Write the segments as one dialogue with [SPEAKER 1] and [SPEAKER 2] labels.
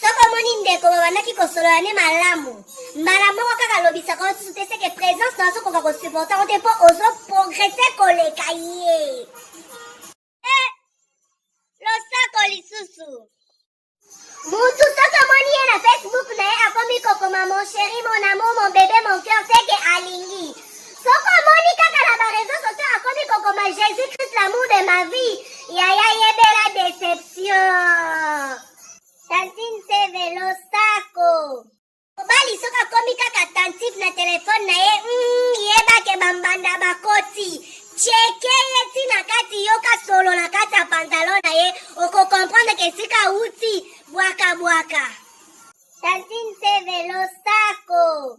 [SPEAKER 1] soki omoni ndeko babandaki kosolola nde malamu mbala moko kaka lobisaka yo susu te seke présence na ozokoka kosupporte yango te mpo ozo progrese koleka ye eh, losako lisusu mutu soki omoni ye na facebook na ye akomi kokoma mon chéri mon amour mon bebe mon cœur seke alingi Soko omoni kaka na ba réseaux sociaux akomi kokoma Jésus Christ l'amour de ma vie, yaya yebela déception. Tantine se velo sako. Mobali soki akomi kaka attentif na telefone na ye, mm, yeba ke bambanda bakoti. Cheke ye ti na kati yoka solo na kati ya pantalon na ye, okokomprendre ke esika awuti bwaka bwaka. Tantine se velo sako.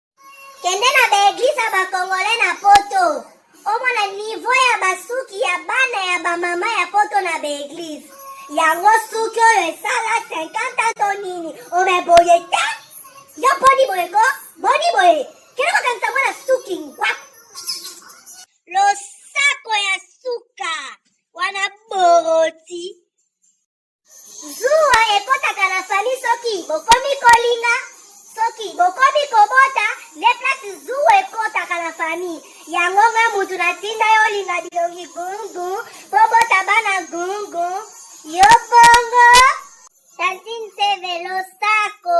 [SPEAKER 1] Kende na ba eglise ya ba congolais na poto. Omona niveau ya basuki ya bana ya ba mama ya poto na ba eglise. Yango suki oyo esala 50 ans to nini? Ome boye te. Yo boni boye ko? Boni boye? Kende kokangisa mwana suki ngwa. Losako ya suka. Wana boroti. Zuwa ekotaka na fami soki bokomi kolinga soki bokomi kobota nde place zuwa ekotaka na fami yango nga mutu natinda yo olinga bilongi gungu bobota bana gungu yo bongo tantine sevelo sako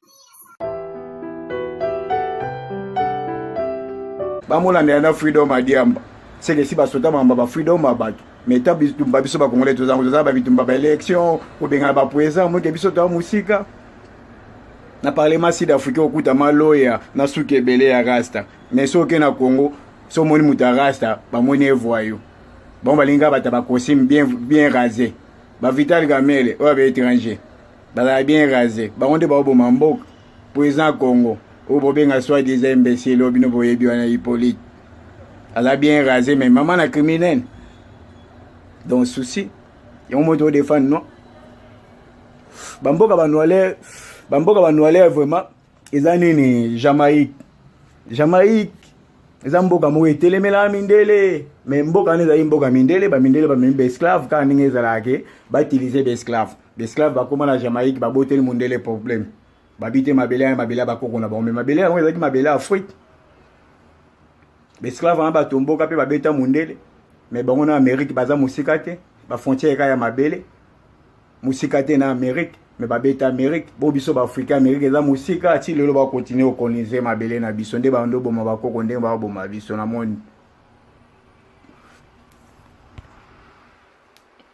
[SPEAKER 2] bamolanda yana freedom adiamba seke si basota mamba ba freedom ba bato mais ta bitumba biso bakongole tozango toza ba bitumba ba élection kobengana bapoesa moke biso toa mosika na parlement sud africain okuta maloya na suki ebele ya rasta mais soki na congo so omoni moto ya rasta bamoni evoyo bango balingi kaka bato ya bacostume bien, bien rase bavital gamele oyo abaétranger bazala bien rase bango nde baoboma mboka mpo eza congo oyo bobenga soit disa imbécile oyo bino boyebi wana hippolyte aza bien rase mais mama na criminel donc souci yango moto odefendre no bamboka banoiler bamboka banoiler vraiment eza nini jamaïque jamaïque eza mboka moko etelemela mindele mais mboka wana ezali mboka mindele bamindele bamemi baesclave kaka ndenge ezalaka ke bautilize baesclave L'esclave bakoma na Jamaïque baboteli mundele problème babi te mabele ya mabele ya bakoko na bango me mabele yango ezalaki mabele ya afrique baesclave wana batomboka mpe babeta mundele me bango na amérique baza mosika te bafrontière eka ya mabele mosika te na amérique me babeta amérique bo biso baafrika amérique eza mosika ti lelo bakontinue kokolonize mabele na biso nde bando boma bakoko ndenge bakoboma biso na moni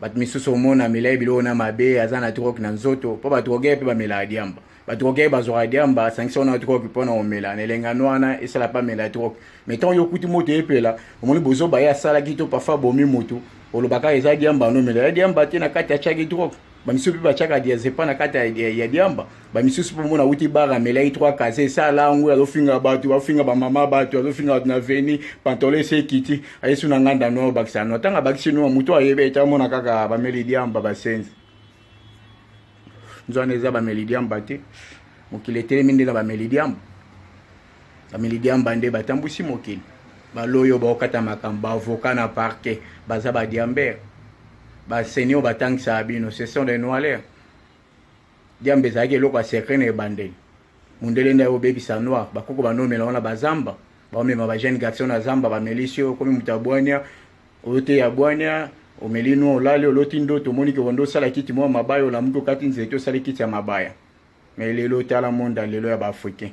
[SPEAKER 2] bato misusu omona amelaki biloko na mabe aza na drogue na nzoto mpo badroge mpe bamelaka diamba badroge bazwaka diamba asangisi wana drogue mpo na komela na elengano wana esala mpe amela drogue mai ntango yo okuti moto epela omoni bozoba ye asalaki to parfois abomi motu olobaka eza diamba anomela ya diamba te na kati atyaki drogue bamisusu mpe batyaka diazepa na kati ya diamba bamisusu mpo mona awuti bar amelaki trois kase esala yango azofinga bato azofinga bamama bato azofinga bato na veni pantolo esi ekiti ayesu na nganda no bakisa no ntango abakisi no motu ayebi ete amona kaka bameli diamba basenzi nzwana eza bameli diamba te mokili etelemi nde na bameli diamba bameli diamba nde batambwisi mokili baloyo baokata makambo baavoka na parke baza badiambere baseni oyo batangisaka bino ce sont des noilaire Diamba ezalaki eloko ya secret na ebandeli. Mundele nda obebisa noir, bakoko banomela wana bazamba, baomema ba jeune garçon na zamba bamelisi yo okomi moto ya bwania, oteya bwania, omeli noir olali oloti ndoto omoni ke ondo osala kiti mwa mabaya olamuki okati nzete osali kiti ya mabaya. Mais lelo tala monde lelo ya ba africain.